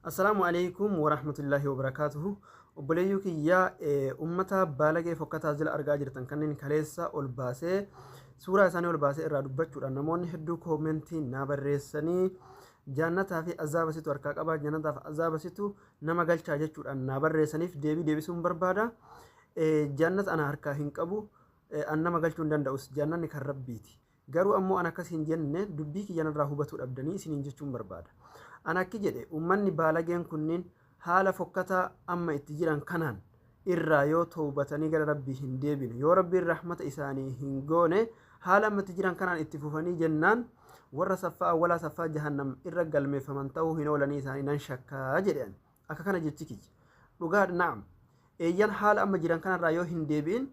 Assalaamu alaikum warahmatullahi wabarakaatuhu. Obboleeyyuu kiyyaa ummata baalagee fokkataa jila argaa jirtan kanneen kaleessa ol baasee suuraa isaanii ol baasee irraa dubbachuudhaan namoonni hedduu koomentii naa barreessanii jaannataa fi azaaba situ harkaa qabaa jaannataaf azaaba situ nama galchaa jechuudhaan naa barreessaniif deebii deebisuun barbaada. Jannat ana harkaa hin qabu, an nama galchuu hin danda'us, jannanni kan Rabbiiti. Garuu ammoo an akkas hin jenne dubbii kiyya narraa hubatuu dhabdanii isiniin jechuun barbaada. An akki jedhe ummanni baalageen kunniin haala fokkataa amma itti jiran kanaan irraa yoo towbatanii gara Rabbii hin deebine, yoo Rabbiin rahmata isaanii hin goone haala amma itti jiran kanaan itti fufanii jennaan warra saffaa awwalaa saffaa jahannam irra galmeeffaman ta'uu hin oolanii isaanii nan shakka jedhe ani. Akka kana jechi kiyya. Dhugaadha, na'am. Eeyyan haala amma jiran kanarraa yoo hin deebi'in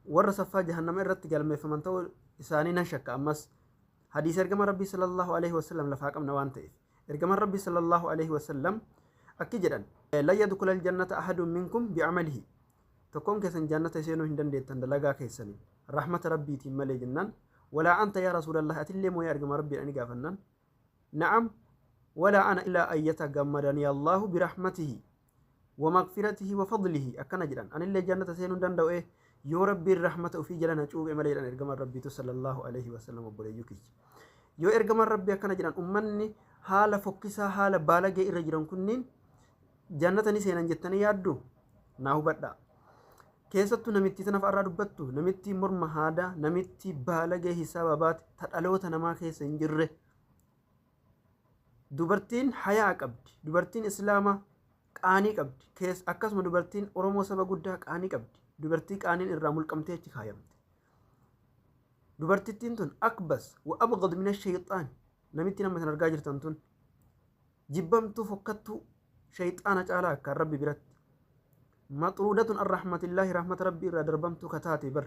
warra saffaa jahannama irratti galmeeffaman ta'uu isaanii nan shakka ammas. Hadiisa ergama Rabbii sallallahu alaihi wasallam lafaa qabna waan ta'eef. Ergaman Rabbii sallallahu alaihi wasallam akki jedhan. La yadkhulal jannata ahadun minkum bi'amalihi. Tokkoon keessan jannata seenuu hin dandeettan dalagaa keessaniin. Rahmata Rabbiitiin malee jennaan. Walaa anta yaa Rasuulallah atillee moo yaa ergama Rabbiidha ni gaafannaan. Na'am wala ana ila an yatagammadani Allahu birahmatihi wamagfiratihi wafadlihi akkana jedhan anillee jannata seenuu hin danda'u ee yoo rabbiin rahmata ufii jala na cuuphe malee jedhan ergaman rabbiitu sallallahu alayhi wasallam obboleeyyuu kiyya yoo ergaman rabbii akkana jedhan ummanni haala fokkisaa haala baalagee irra jiran kunniin Jannata ni seenan jettanii yaadduu? Naa hubadhaa. Keessattuu namittii tana fa'arraa dubbattu, namittii morma haadaa, namittii baalagee hisaaba baate, ta dhaloota namaa keessa hin jirre. Dubartiin hayaa qabdi, dubartiin Islaamaa qaanii qabdi, kees akkasuma dubartiin Oromoo saba guddaa qaanii qabdi, dubartii qaaniin irraa mulqamtee achi kaayamte. Dubartittiin tun akbas wa abghad mina shayxaan namittiin amma isin argaa jirtan tun jibbamtuu fokkattuu shayxaana caalaa akkaan rabbi biratti maxruudatun an rahmatillaahi rahmata rabbi irraa darbamtuu ka taate bar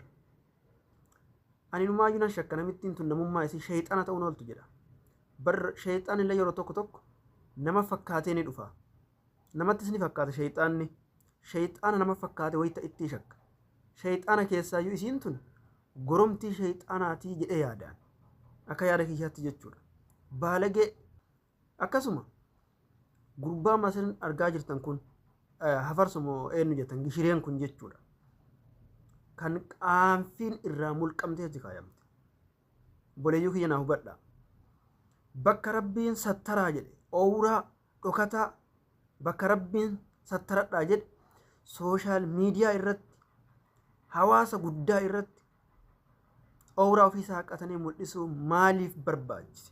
ani numaayyuu nan shakka namittiin tun namummaa isii shayxaana ta'uun ooltu jedha bar shayxaan illee yeroo tokko tokko nama fakkaatee ni dhufa namattis ni fakkaata shayxaanni shayxaana nama fakkaate wayita ittii shakka shayxaana keessaayyuu isiin tun goromtii shayxaanaatii jedhee yaadaan akka yaada kiyyaatti jechuudha baalagee Akkasuma gurbaa Masirin argaa jirtan kun hafarsu moo eenyu jettan gishireen kun jechuudha. Kan qaanfiin irraa mulqamtee itti kaayamte. Boleeyyuu kiyya naa hubadha. Bakka rabbiin sattaraa jedhe oowuraa dhokataa bakka rabbiin sattaradhaa jedhe sooshaal miidiyaa irratti hawaasa guddaa irratti oowuraa ofii saaqatanii mul'isuu maaliif barbaachise?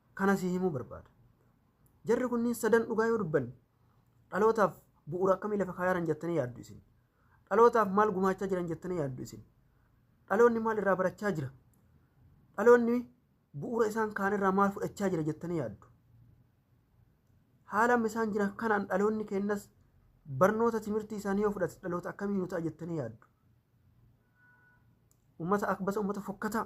Kana sii himuu barbaada. Jarri kunniin sadan dhugaa yoo dubbanne dhalootaaf bu'uura akkamii lafa kaayaaran jettanii yaaddu isin? Dhalootaaf maal gumaachaa jiran jettanii yaaddu isin? Dhaloonni maal irraa barachaa jira? Dhaloonni bu'uura isaan kaan irraa maal fudhachaa jira jettanii yaaddu? Haala amma isaan jiran kanaan dhaloonni keenyas barnoota timirtii isaanii yoo fudhate dhaloota akkamii nu ta'a jettanii yaaddu? Uummata akbasa uummata fokkataa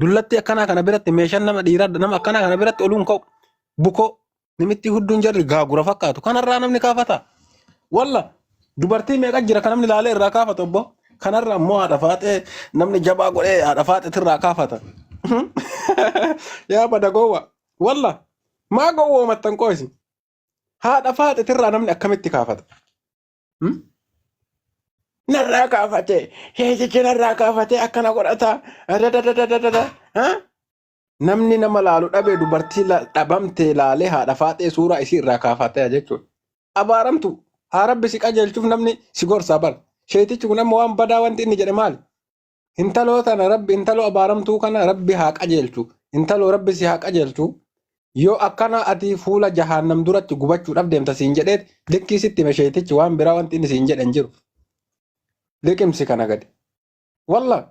Dullattii akkanaa kana biratti meeshaan nama dhiiraa nama akkanaa kana biratti oluun ka'u. Bukoo nimittii hudduun jarri gaagura fakkaatu. Kanarraa namni kaafata. Walla dubartii meeqa jira kan namni laalee irraa kaafata obbo. Kanarra immoo haadha faaxee namni jabaa godhee haadha faaxeetti irraa kaafata. Yaa bada gowwa. Walla maa gowwoomattan qoosi. Haadha faaxeetti irraa namni akkamitti kaafata. Hmm? narraa kaafate heetichi narraa kaafate akkana godhata dadadadadadada ha? namni nama laalu dhabe dubartii la- dhabamte laalee haadha faaxee suuraa isii irraa kaafatee jechuudha. Abaaramtu haa rabbi si qajeelchuuf namni si gorsaa bar. Sheetichi kun amma waan badaa wanti inni jedhe maali? Intaloo tana rabbi intaloo abaaramtuu kana rabbi haa qajeelchu. Intaloo rabbi si haa qajeelchu. Yoo akkana ati fuula jahaannam duratti gubachuudhaaf deemta siin jedheet likkii sitti hime sheeytichi waan biraa wanti inni siin jedhe hin jiru. Liqimsi kana gadi. Wallah.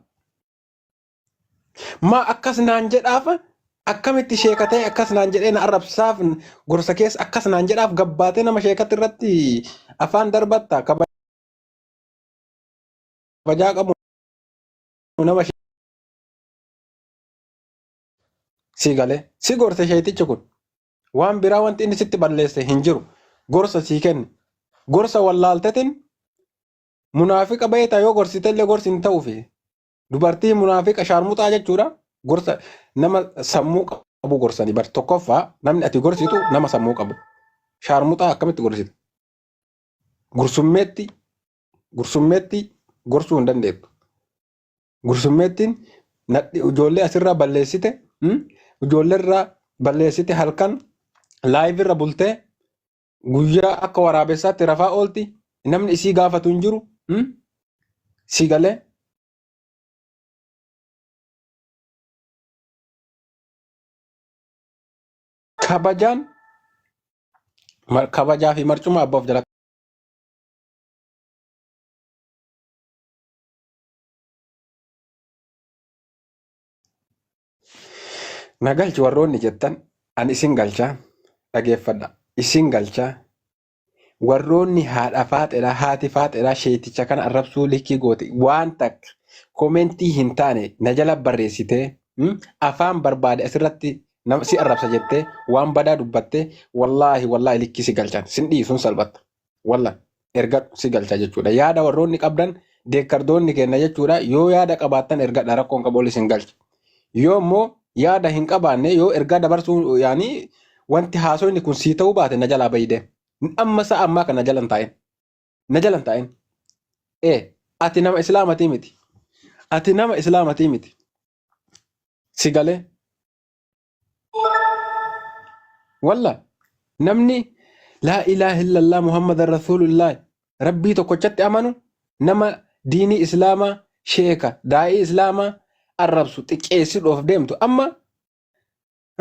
Maa akkas naan jedhaaf akkamitti sheeka ta'e akkas naan jedhee na arrabsaaf gorsa keessa akkas naan jedhaaf gabbaatee nama sheekatti irratti afaan darbatta kaba kabajaa qabu nama si galee si gorse sheeytichi kun waan biraa wanti inni sitti balleesse hin jiru gorsa sii kenne gorsa wallaaltetin munaafiqa beektaa yoo gorsite illee gorsi hin ta'uufi dubartii munaafiqa shaarmuxaa jechuudha gorsa nama sammuu qabu gorsanii bar tokkoffaa namni ati gorsitu nama sammuu qabu shaarmuxaa akkamitti gorsita gursummeetti gursummeetti gorsuu hin dandeettu. Gursummeettiin nadhi ijoollee asirraa balleessite mm, ijoolleerraa balleessite halkan laayivirra bultee guyyaa akka waraabessaatti rafaa oolti namni isii gaafatu hin jiru mm, si galee kabajaan mar- kabajaa fi marcuma abbaa of jala Na galchi warroonni jettan an isin galchaa dhageeffadha isin galchaa warroonni haadha faaxeedhaa haati faaxeedhaa sheeticha kana arrabsuu likkii goote waan takka komentii hin taane na jala barreessitee mm, afaan barbaade asirratti nam- si arrabsa jettee waan badaa dubbattee wallaahi wallaahi likkii si galchan sin dhiisun salphatta Wallah ergadhu si galcha jechuudha. Yaada warroonni qabdan deekkardoonni kenna jechuudha. Yoo yaada qabaattan ergadha rakkoon qabu ol isin galcha. Yoo immoo yaada hin qabaanne yoo ergaa dabarsuu yaani wanti haasoyni kun sii ta'uu baate na jalaa bayi deem. Amma sa'a ammaa kana jala hin taa'in. Na jala hin taa'in. Ee ati nama islaamatii miti. Ati nama islaamatii miti. Si galee. Wallah namni laa ilaaha illallah Muhammad Rasuulullah rabbii tokkochatti amanu nama diinii islaamaa sheeka daa'ii islaamaa arrabsu xiqqeessidhoof deemtu amma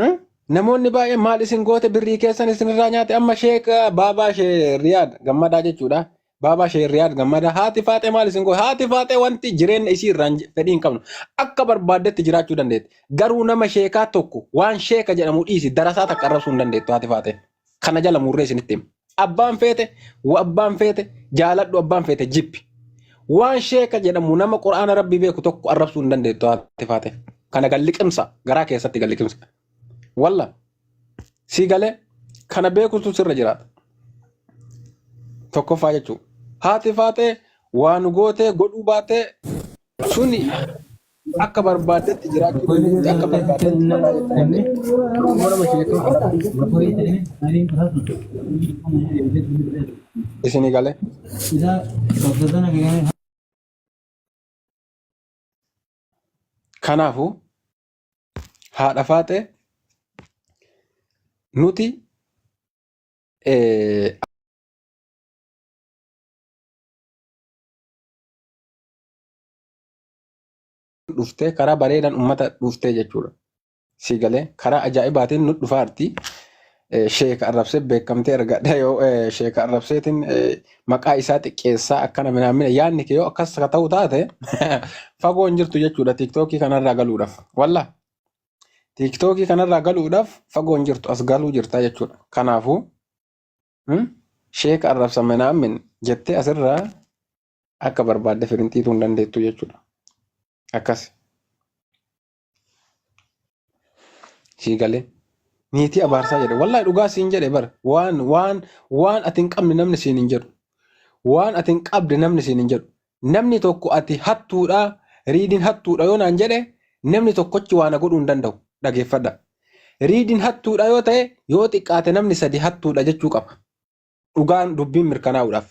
hmm, namoonni baay'een maal isin goote birrii keessan isinirraa nyaate amma sheeka baabaa shee riyaad gammadaa jechuudha Baabaa Shee Riyaad Gammadaa haati faaxee maal isin godhe? Haati faaxee wanti jireenya isii irraan je- fedhii hin qabnu. Akka barbaaddetti jiraachuu dandeetti. Garuu nama sheekaa tokko waan sheeka jedhamu dhiisi darasaa takka arrabsuu hin dandeettu haati faaxee. Kana jala murree isinitti hima. Abbaan feete, wa abbaan feete, jaaladhu abbaan feete jibbi. Waan sheeka jedhamu nama quraana rabbii beeku tokko arrabsuu hin dandeettu haati faaxee. Kana galliqimsa garaa keessatti galliqimsa. Walla sii galee kana beekuutu sirra jiraata. Tokkoffaa jechuu haati faaxee waan gootee godhuu baatee suni akka barbaaddetti jiraachuu dandeetti akka barbaaddetti manaa jechuu dandeetti. Immoo nama sheekaa haadha isinii galee. Kanaafuu haadha faaxee nuti eh, dhuftee karaa bareedaan ummata dhuftee jechuudha. Si galee karaa ajaa'ibaatiin nu dhufaarti. eh, sheeka arrabsee beekamtee argadha yoo eh, sheeka arrabseetiin eh, maqaa isaa xiqqeessaa akkana minaamina yaadni kee yoo akkas ka ta'u taate fagoo hin jirtu jechuudha tiiktookii kanarraa galuudhaaf walla tiiktookii kanarraa galuudhaaf fagoo hin jirtu as galuu jirta jechuudha kanaafuu hmm, sheeka arrabsa minaamin jettee asirraa akka barbaadde firinxiituu hin dandeettu jechuudha akkas sii galee niitii abaarsaa jedhe wallahi dhugaa siin jedhe bar waan waan waan ati hin qabne namni siin hin jedhu waan ati hin qabde namni siin hin jedhu namni tokko ati hattuudha riidiin hattuudha yoo naan jedhe namni tokkochi waan godhuu hin danda'u dhageeffadha riidiin hattuudha yoo ta'e yoo xiqqaate namni sadi hattuudha jechuu qaba dhugaan dubbiin mirkanaa'uudhaaf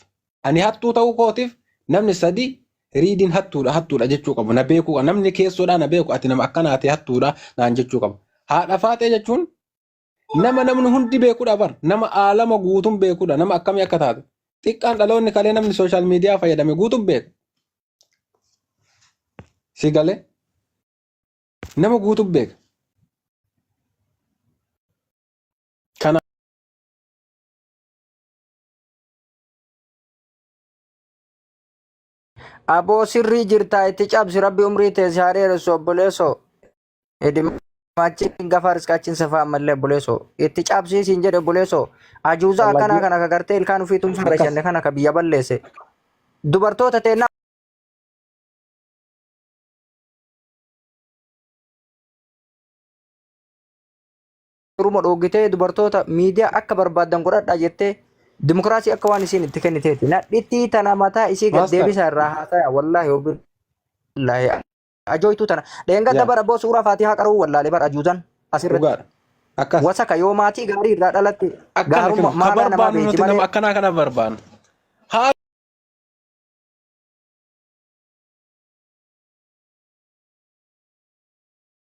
ani hattuu ta'uu kootiif namni sadi riidiin hattuudha hattuudha jechuu qabu na beekuu qaba namni keessoodhaa na beeku ati nama akkanaati hattuudha naan jechuu qabu haadha faaxee jechuun nama namni hundi beekudha bar nama aalama guutuun beekudha nama akkamii akka taate xiqqaan dhaloonni kalee namni sooshaal miidiyaa fayyadame guutuun beeka si galee nama guutuun beeka Aboo sirrii jirtaa itti cabsi rabbi umrii teessi haa dheeressu obboleessoo. Edimaachiin gafa riskaachiin safaa ammallee obboleessoo. Itti cabsii siin jedhe obboleessoo. Ajuuzaa akkanaa Wallagii kana ka gartee ilkaan ofii tumsuun akkas rashanne kana ka biyya balleesse. Dubartoota teennaa Oromoo dhooggitee dubartoota miidiyaa akka barbaaddan godhadhaa jettee dimokiraasii akka waan isiin itti kenniteeti. Nadhittii tana mataa isii gad Maastar. deebisaa irraa haasaya wallaahi obbi wallaahi ajooytuu tana. Dheengadda Yaa. bara boo suuraa faatihaa qara'uu wallaalee bara ajuuzan asirratti. Dhugaadha. Akkas. Wasaka yoo maatii gaarii irraa dhalatte Akkana gaarumma kana. Ka maalaa namaa barbaannu beekti nuti nama malee akkanaa kana barbaannu. Haa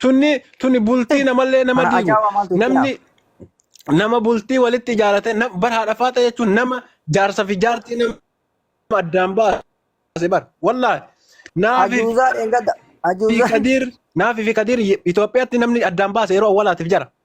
tunni tunni bultii namallee nama Kana diigu ajaa'ibaa maaltu itti namni nama bultii walitti ijaarate nam- bar haadha faaxa jechuun nama jaarsa fi jaartii nama addaan baase bar wallaahi naafi Ajuuzaa dheengadda. fi Ajuuzaa. kadiir naafi fi kadiir Itoophiyaatti namni addaan baase yeroo awwalaatiif jara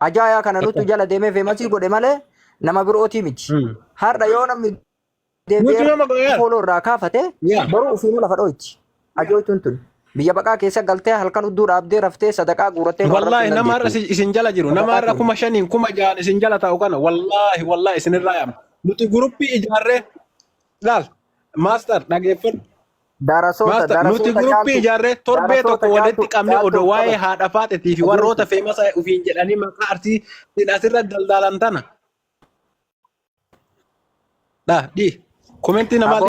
Ajaayaa kana nutu jala deemee feemasii godhe malee nama birootii miti. Har'a yoo namni Nuti nama godheera. deebi'ee fooloo irraa kaafate Yaa. boruu ofiinuu lafa dhooyti. Ajooytuun tun biyya baqaa keessa galtee halkan udduu dhaabdee raftee sadaqaa guurattee nu Wallaahi arrabsuu nama har'a dandeetti. isin- isin jala jiru. Nama Sadaqaa har'a tun. kuma shaniin kuma ja'an isin jala taa'u kana wallaahi wallaahi isinirraa yaama. Nuti guruppii ijaarree laal maastar dhageeffadhu. Darasoota Maastar, nuti darasoota guruppii caaltu ijaarree torbee darasoota tokko caaltu walitti qabne caaltu odoo waa'ee qabata. haadha faaxetii fi warroota Adeemsi. feemasa ofiin jedhanii maqaa arsii sin asirra daldaalan tana. Dha, dhi. Komentii namaa Aboo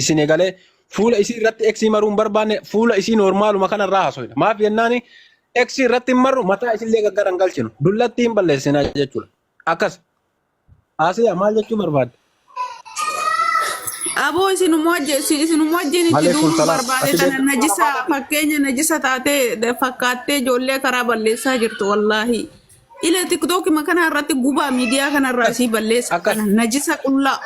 isin egalee fuula isii irratti X maruu hin barbaanne fuula isii noormaaluma kana irraa haasofna. Maaf jennaan X irratti hin marru mataa isillee gaggara hin galchinu. Dullatti hin balleessina jechuudha. Akkas. Haasaya maal jechuu barbaadde? Aboo isinuma wajjin isin- isinuma wajjin itti Malee duuluu fuultala barbaade ati tana beektu najisa fakkeenya najisa taatee fakkaattee ijoollee karaa balleessaa jirtu wallaahi. Ile tiktoki makana irratti gubaa miidiyaa kana irraa isii balleessa Akkas. kana najisa qullaa.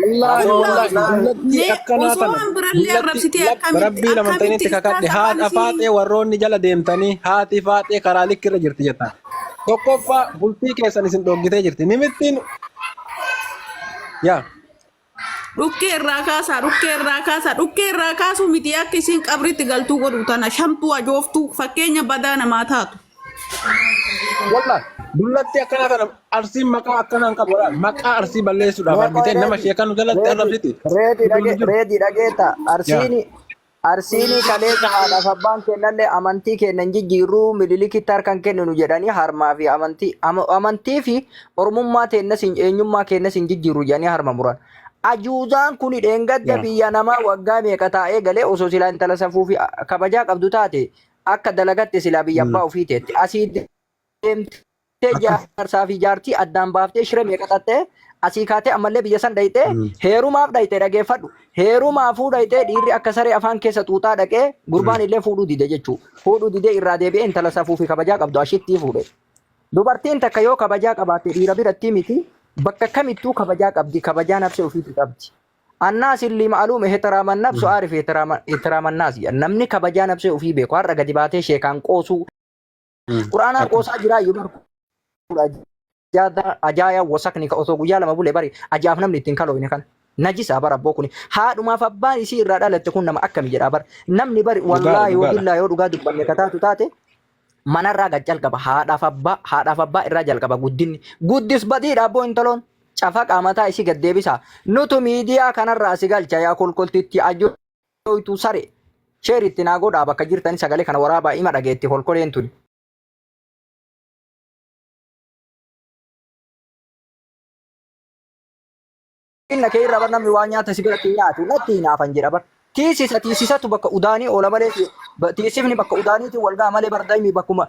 Wallaahi Aboo wallaahi Aboo. dullattii Mee akkanaa osoo tana waan birallee dullattii arrabsitee lab- akkamitti rabbii laman akkamitti ta'initti isaan kakadhe safaan haadha isii faaxee warroonni jala deemtanii haati faaxee karaa likki irra jirti jettan tokkoffaa bultii keessan isin dhoggitee jirti nimittiin yaa Dhukkee irraa kaasaa, dhukkee irraa kaasaa, dhukkee irraa kaasuu miti akka isiin qabritti galtuu godhu tana shamtuu ajooftuu fakkeenya badaa namaa taatu. Wallah, dullatti akkana kana arsiin maqaa akkanaan qabu wallah. Maqaa arsii balleessuudhaaf argitee nama sheekaa nu jalatti arrabsiti. Reedii dhagee reedii dhageeta arsiini Arsiini kaleessa haadhaaf abbaan keennallee amantii keenna hin jijjiirru, Minilikitti harka hin kenninu jedhanii harmaa fi amantii, amantii fi Oromummaa teennas, eenyummaa keennas hin jijjiirru jedhanii harma muran. Ajuuzaan kuni dheengadda biyya namaa waggaa meeqa taa'ee galee osoo silaa intala safuu fi kabajaa qabdu taate akka dalagatte silaa biyya abbaa ofii teetti. Asii deemtee Tee Akkas. jaarsaa fi jaartii addaan baaftee shira meeqa xaxxee asii kaatee ammallee biyya san dhayxee Mm. heerumaaf dhayxee dhageeffadhu heerumaafuu dhayxee dhiirri akka saree afaan keessa xuuxaa dhaqee gurbaan illee fuudhuu dide jechuu fuudhuu didee irraa deebi'ee intala safuu fi kabajaa qabdu ashittii fuudhe dubartiin takka yoo kabajaa qabaatte dhiira biratti miti bakka kamittuu kabajaa qabdi kabajaa nafsee ofiitti qabdi annaas illi ma'aluum ihtiraaman nafsu aarif ihtiraaman naas namni kabajaa nafsee ofii beeku har'a gadi baatee sheekaan qoosuu Quraanaa Akkuma. qoosaa jiraa yoo barku. Ajaaya wasakni ka osoo guyyaa lama bule bari ajaaf namni ittiin kaloofne kana. Najisaa bara abboo kuni. Haadhumaaf abbaan isii irraa dhalatte kun nama akkami jedhaa bara. Namni bari Dhugaadha, wallaahi dhugaadha. wabillaa yoo dhugaa dubbanne ka taatu taate manarraa gad jalqaba haadhaaf abbaa haadhaaf abbaa irraa jalqaba guddinni guddis badiidha abboo intaloon cafaqaa mataa isii gad deebisa nutu miidiyaa kanarraa si galcha yaa kolkoltitti ajoo Dhoytuu saree. Sheer itti naa godhaa bakka jirtani sagalee kana waraabaa ima dhageetti kolkoleen tuni. Inna kee irra bar namni waan nyaata si biratti nyaatu natti hinaafan jedha bar. Tiisisa tiisisatu bakka udaanii oola malee ti- ba- tiisifni bakka udaaniitiin wal ga'a malee bar daimi bakkuma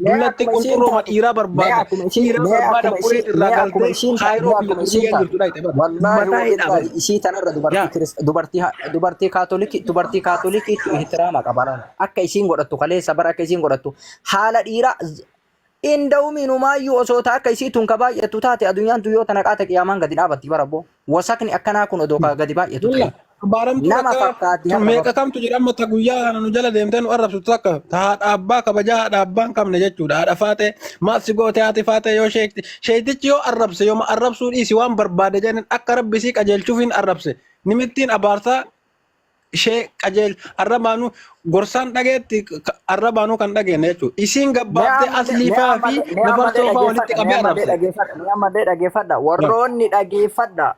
Dullatti qunxurrooma dhiiraa barbaada. Dhiiraa barbaada qoree irraa galtee kaayiroo biyya Turkiyyaa jirtudha itti bara. Mataa hidhaa bara. Isii tanarra dubartii dubartii kaatolikii dubartii kaatolikii ihtiraama qabana. Akka isiin godhattu kaleessa bara akka isiin godhattu haala dhiiraa inda'umiinumaayyuu osoo taa akka isii tun ka baay'attu taate addunyaan tun yoo tana qaata qiyaamaan gadi dhaabatti bara boo. Wasakni akkanaa kun odoo kaa gadi baay'atu Walla ta'e. abbaaramtuu Nama takka fakkaatti har'a meeqa bakka. kamtu jira amma ta guyyaa kana nu jala deemtee nu arrabsitu takka ta haadha abbaa kabajaa haadha abbaa hin qabne jechuudha haadha faatee maaf si goote haati faatee yoo sheekti sheektichi yoo arrabse yooma arrabsuu dhiisi waan barbaade jedhan akka rabbi isii qajeelchuuf hin arrabse nimittiin abaarsaa ishee qajeelchu arrabaanuu gorsaan dhageetti arrabaanuu kan dhageenne jechuudha. Isiin gabbaaftee asliifaa fi nafarsoofaa walitti qabee arrabse. Mee ammallee dhageeffadha. Warroonni dhageeffadha.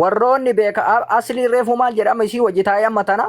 Warroonni beeka asli reefu maal jedhama isii wajji taa'ee amma tana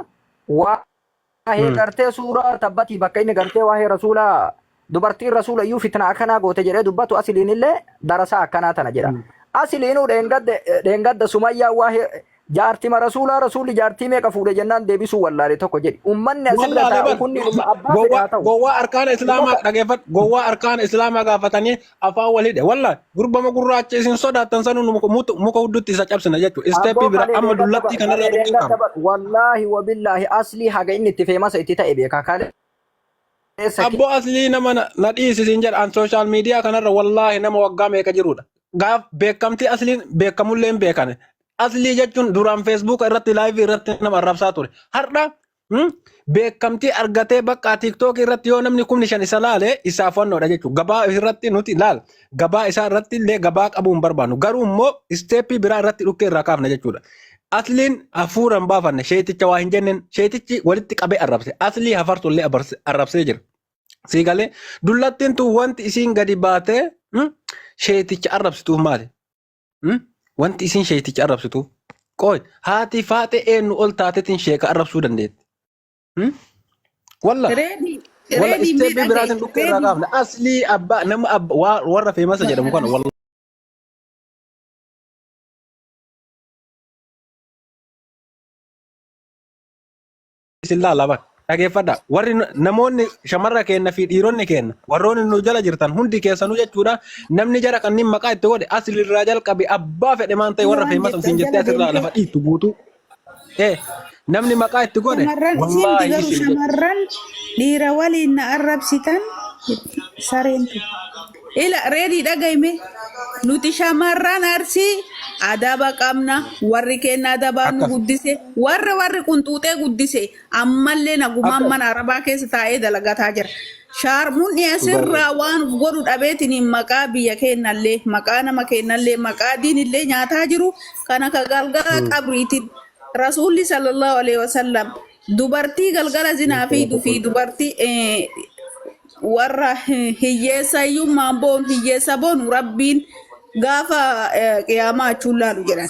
waa'ee gartee suuraa tabbatii bakka inni gartee waa'ee rasuulaa dubartiin rasuula iyyuu fitna akkanaa goote jedhee dubbatu asiliin illee darasaa akkanaa tana jedha. Asiliinuu dheengadda dheengadda sumayyaa waa'ee jaartima rasuulaa rasuulli jaartii meeqa fuudhe jennaan deebisuu wallaale tokko jedhi. Ummanni asirra Wallaalee taa'u bar kunni umma abbaa fedhe gowwaa haa ta'u. gowwaa arkaana islaamaa Ummata dhageeffadhu gowwaa arkaana islaamaa gaafatanii afaan wal hidhe wallaahi gurbama gurraacha isin sodaattan sanuu nu muka mutu- muka huddutti isa cabsina jechuudha isteeppii Abboo bira kalee amma dheengadda dullattii bar kanarraa kalee dheengadda dhukkubfama. bar wallaahi wabillaahi aslii haga inni itti feemasa itti ta'e beeka kalee Eessa kee? Abbo aslii nama na na dhiisi siin jedha an social media kanarra wallaahi nama waggaa meeqa jirudha. Gaaf beekamtii asliin beekamullee hin beekane. Aslii jechuun duraan Facebook irratti live irratti nama arrabsaa ture. Har'a hmm, beekamtii argatee bakka TikTok irratti yoo namni kumni shan isa laale isaaf wannoodha jechuudha. Gabaa irratti nuti laal. Gabaa isaa irratti illee gabaa qabuu hin barbaannu. Garuu immoo isteeppii biraa irratti dhukkee irraa kaafna jechuudha. Asliin hafuura hin baafanne sheeticha waa hin jenneen sheetichi walitti qabee arrabse. Aslii hafartu illee abarse- arrabsee jira. Sii galee dullattiin tun wanti isiin gadi baatee hmm, sheeticha arrabsituuf maali? Hmm? Wanti isiin sheeticha arrabsituuf. Qooy haatii faaxee eenyu ol taatetiin sheeka arrabsuu dandeetti. Hmm? Wallah. Reedi Wallah reedi mee isteeppii dhaga'i biraatiin dhukkee irraa reedi kaafna. Aslii abbaa nama abba waa- warra feemasa jedhamu kana wallah. isin laala bar. Dhageeffadha. Warri nu- namoonni shamarra keenna fi dhiironni keenna warroonni nu jala jirtan hundi keessanuu jechuudha namni jara kanneen maqaa itti godhe asirraa jalqabe abbaa fedhe maan ta'e warra waan feemasa jettan isin jettee jala asirraa deemtee lafa dhiittu guutuu. Eh, namni maqaa itti godhe Shamarran isinti wallaahi garuu isin jedhe. shamarran dhiira waliin na arrabsitan sareentu. Ila reedii dhagayme nuti shamarran arsii adaba qabna warri keenya adabaan nu Akkas. guddise warra warri qunxuuxee guddise ammallee nagumaan Akka mana arabaa keessa taa'ee dalagataa jira. Shaarmuun dhugaa asirraa ta'e. waan of godhu dhabeetiin maqaa biyya keennallee, maqaa nama keennallee, maqaa diinillee nyaataa jiru kan akka galgala Mm. qabriitiin Rasuulli sallallahu alaihi wasallam dubartii galgala zinaa Jechuun fiidu fi tokko. dubartii eh, warra hi- hiyyeessa hiyyummaan boonu hiyyeessa boonu rabbiin gaafa eh, qiyaamaa achuun laalu jedhan.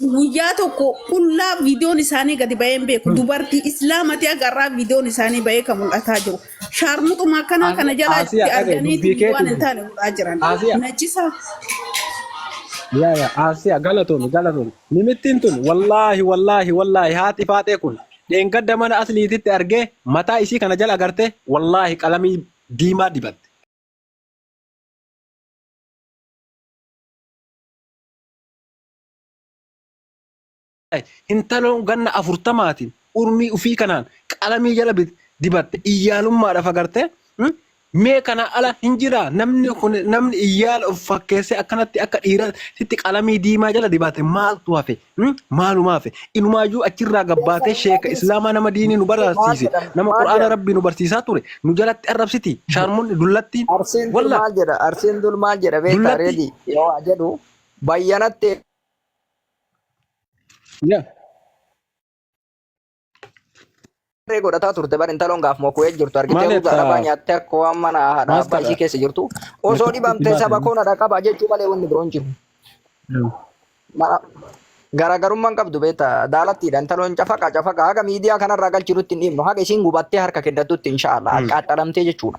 Guyyaa tokko qullaa viidiyoon isaanii gadi ba'ee hin beeku. Dubartii islaamati agarraa viidiyoon isaanii ba'ee kan mul'ataa jiru. Shaarmuxuma akkanaa Asi- kana jalaa Asiya itti dhaga'i, arganii dubbii keetu waan hin dubbi. taane godhaa jiran. Asiya. Najisaa. Yaa yaa Asiya galatoomi galatoomi. Nimittiin tun wallaahi wallaahi wallaahi haati faaxee kun dheengadda mana asliititti argee mataa isii kana jala agartee wallaahi qalamii diimaa dibatte. Hintaloon ganna afurtamaatiin urmii ufii kanaan qalamii jala dibatte iyyaalummaadhaaf agartee mee kana ala hin jiraa namni kun namni iyyaala of fakkeessee akkanatti akka dhiira sitti qalamii diimaa jala dibaate maaltu hafe maaluma hafe inumaayyuu achirraa gabbaatee sheeka islaamaa nama diinii nu barsiise nama qur'aana rabbii nu barsiisaa ture nu jalatti arrabsiti shaarmunni dullattiin Arsiin dur walla maal jedha? Arsiin dur maal jedha beektaa Dullatti- reedii yoo waa jedhu Bayyanatti Yeah. eegaree godhataa turte bar intaloon gaaf moku'ee jirtu Maal argitee ruuza jettaa? arabaa nyaattee akka waan mana haadha abbaa Maaskara. ishii keessa jirtu osoo Meeshaa dhibamtee dhibaa saba ta'e. koona dhaqaba jechuu malee wanni biroon jiru. Mara- Garaagarummaan qabdu beektaa daalattiidha intaloon cafaqa cafaqa haga miidiyaa kanarraa galchirutti hin dhiibnu haga isiin gubattee harka kennatutti inshaallah qaxxalamtee jechuudha.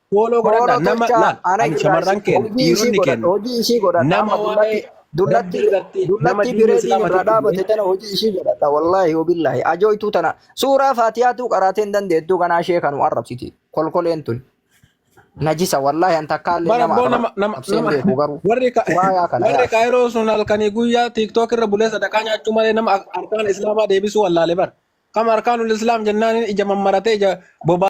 Fooloo godhadha Fooloo nama tolchaa laal ana ani irraa shamarran keenya hojii ishii dhiironni godhadha keenya hojii ishii godhadha nama amma waa'ee dullatti rabbii dullatti irratti nama dullatti diinni bireediin islaama irraa tokko dhaabate tana hojii ishii godhadha wallaahi wabillaahi ajooytuu tana suuraa faatiyaatuu qaraatee hin dandeettuu kanaa ishee kanuma arrabsiti kolkoleen tun najisa wallaahi an takkaallee bara nama boo nama nama arrabsee hin nama beeku garuu warri ka- kuraayaa kana warri yaa kaayiroo sun halkanii guyyaa tiiktook irra bulee sadaqaa nyaachuu malee nama ar- arkaan islaamaa deebisuu wallaale bar kam arkaanul islaam jennaan ija mammaratee ija bobaa